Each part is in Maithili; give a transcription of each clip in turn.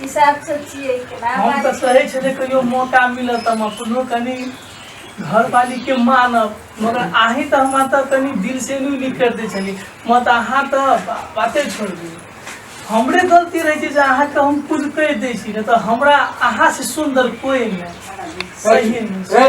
हिसाब से छियै के ना हम तऽ सही छै जे कहियो मौका मिलत हम अपनो कनि घर वाली के मानब मगर अहीं तऽ हमरा तऽ कनि दिल से नहि लिख कर दै छली मत अहाँ तऽ बा- बाते छोड़ दी हमरे गलती रहै छै जे अहाँके हम कुछ कहि दै छी नहि तऽ हमरा अहाँ से सुंदर कोई नहि सही नहि ए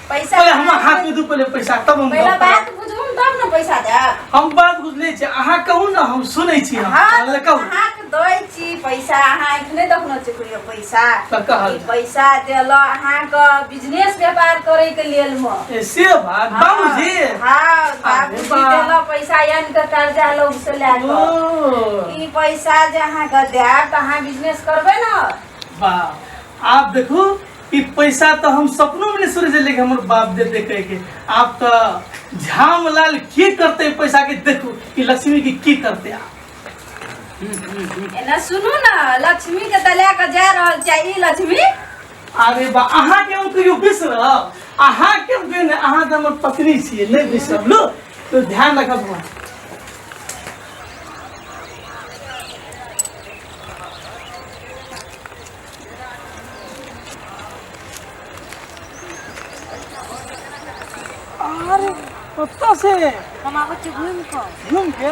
पैसा पहिले हमरा हाथ में दू पहिले पैसा तब हम पहला गप करब। बात बुझू तब ने पैसा देब हम बात बुझले छी अहाँ कहू ने हम सुनै छी हम हाँ, अहाँ कहू अहाँके दै छी पैसा अहाँ एखने देखने छी कहियो पैसा तऽ कहल। ई पैसा देल अहाँके बिजनेस व्यापार करैके लेल म ए, से बात बाबूजी हाँ बाबूजी बा। देल पैसा यानि के कर्जा लोग से लए कऽ ओ, ई पैसा जे अहाँके देब तऽ अहाँ बिजनेस करबै ने वाह आप देखू ई पैसा तो हम सपनों में नहीं सोचे छलिए कि हमर बाप देते कह के आप तो झामलाल की करते पैसा के देखो कि लक्ष्मी की की करते आप एना सुनू ना लक्ष्मी के त लए कऽ जा रहल छै ई लक्ष्मी अरे बा अहाँ के हम कहियो बिसरब अहाँ के हम कहियो नहि, अहाँ तऽ हमर पत्नी छियै नहि बिसरब लो तो ध्यान रखब बौआ। अरे कत्ता से हम आबै छी घुमि कऽ घूम के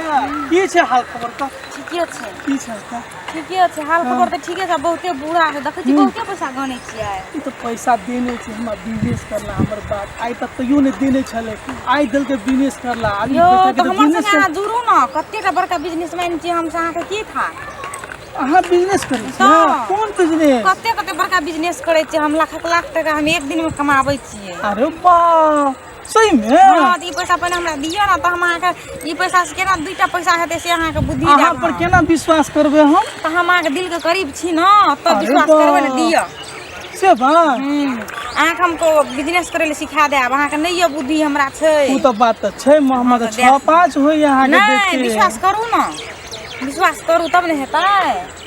की छै हाल खबर का ठीके छै की छै का ठीके छै हाल खबर तऽ ठीके छै बहुते बुरा छै देखै छी बहुते पैसा गनै छियै ई तऽ पैसा देने छै हमरा बिजनेस करला हमर बात आइ तक तैयो नहि देने छलै आइ देलकै बिजनेस करला आब ई यौ पैसा के तऽ तऽ हमर बिजनेस संगे अहाँ जुड़ू ने कतेटा बड़का बिजनेसमैन छी हमसँ अहाँके की था अहाँ बिजनेस करै छियै तऽ। कोन बिजनेस कते कते बड़का बिजनेस करै छियै हम लाख लाख टाका हम एक दिन मे कमाबै छियै अरे बा सही में हँ तऽ ई पैसा पहिने हमरा दिअ ने तऽ हम अहाँके ई पैसा से केना दूटा पैसा हेतै से अहाँके बुद्धि अहाँ जायब पर हम। केना विश्वास करबै हम तऽ हम अहाँके दिल के करीब छी ने तब अरे विश्वास बा। करबै ने दिअ से बात हम्म, अहाँके हमको बिजनेस करै लए सिखा देब अहाँके नहि यऽ बुद्धि हमरा छै ओ तऽ बात तऽ छै मोहम्मद तऽ छओ देख। पाँच होइए अहाँके नहि देखिके विश्वास करू ने विश्वास करू तब ने हेतै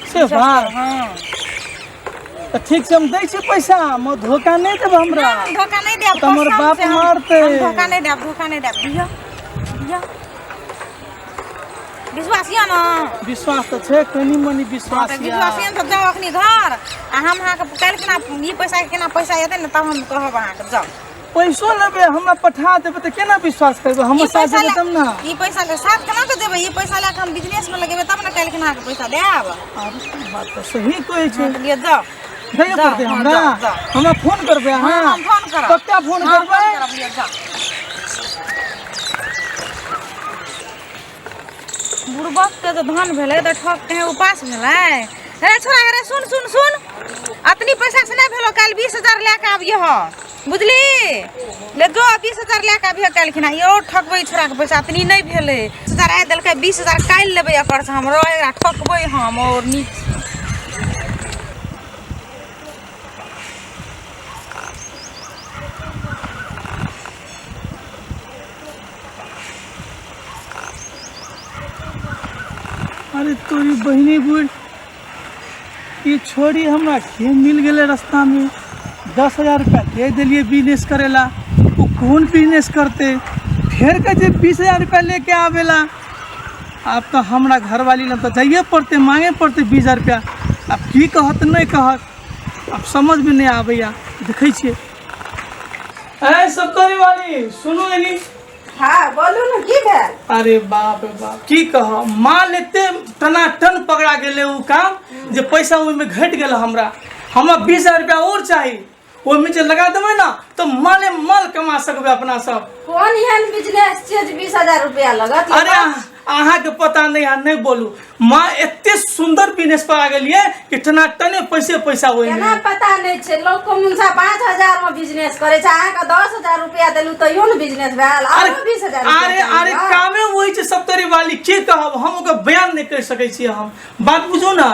से विश्वास बात। करू, हँ तऽ ठीक छै हम दै छी पैसा हम धोखा नहि देब हमरा हम धोखा नहि देब तऽ हमर कसम बाप से हम- मारतै। हम धोखा नहि देब धोखा नहि देब दिअ दिअ विश्वास यऽ ने विश्वास तऽ छै कनी मनी हँ, विश्वास तऽ यऽ। विश्वास यऽ ने तऽ जाउ अखनी घर आ हम अहाँके काल्हि केना ई पैसा केना पैसा एतै ने तब हम कहब अहाँके जाउ पैसो लेबे हमरा पठा देबे त केना विश्वास करबे हम ई साथ पैसा देबे ले- तब ना ई पैसा के साथ केना के देबै ई पैसा लए के हम बिजनेस में लगेबै तब ने काल्हि केना के पैसा देब अरे तू बात त सही कहै छै हम लिए जाओ दैए जाओ, पड़तै हाँ, हमरा जाओ, जाओ। हमरा फोन करबे हाँ, अहाँ हम फोन करब। पक्का फोन हाँ, फोन करबे करब, लिए जाओ। बुड़बक के तो धन भेलै तऽ ठक कहीं उपास भेलै अरे छोरा अरे सुन सुन सुन अतनी पैसा से नहि भेलो काल्हि बीस हजार लए कऽ आबियो बुझली ले जो बीस हजार लए कऽ अभी काल्हिखिन यौ ठकबै छोड़ाके पैसा तनी नहि भेलै बीस हजार आइ देलकै बीस हजार काल्हि लेबै एकरसँ हम एकरा ठकबै हम आओर नीक अरे तोरी बहिनी बुढ़ ई छोड़ी हमरा के मिल गेलै रस्तामे दस हजार रुपया दे देलियै बिजनेस करै ला ओ कोन बिजनेस करतै फेर कहै छै बीस हजार रुपया लेके आबै ला आब तऽ हमरा घरवाली लग तऽ जाइए पड़तै मांगे पड़तै बीस हजार रुपया आब की कहत नहि कहत आब समझमे नहि आबैया देखै छियै ऐ सब वाली सुनू एनी हाँ बोलू ने की भेल अरे बाप रे बाप की कह माल एते टनाटन पकड़ा गेले उ काम जे पैसा ओहिमे घटि गेल हमरा हमरा बीस हजार रुपया और चाही ओहिमे जे लगा देबै ने तऽ माले माल कमा सकबै अपना सब कोन एहन बिजनेस छै जे बीस हजार रुपया लगत अरे अहाँ- अहाँ के पता नहीं है नहीं बोलू माँ एते सुंदर बिजनेस पर आ गई है कि टनाटने पैसे पैसा हुए केना पता नहि छै लोक को मुनसा पाँच हजार मे बिजनेस करे छै अहाँके दस हजार रुपया देलू तैयो ने बिजनेस भेल अरे आरो बीस हजार रुपया अरे अरे देलू। कामे वही छै सप्तरी वाली के कहब हम ओकर बयान नहीं कर सके छी हम बात बुझू ना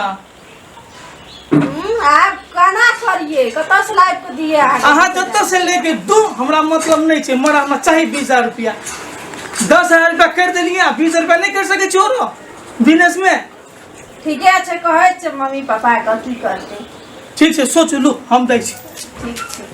आब केना करिए कतऽ से लाइव के दिए अहाँ जतऽ से लेके दो हमरा मतलब नहीं छे मरा हमरा चाहिए बीस हजार रुपया दस हजार रुपया कर देलिए बीस हजार रुपया नहीं कर सके छोरो बिजनेस में ठीके छै कहै छै मम्मी पापा के की करतै ठीक छै सोचू लू हम दै छी ठीक छै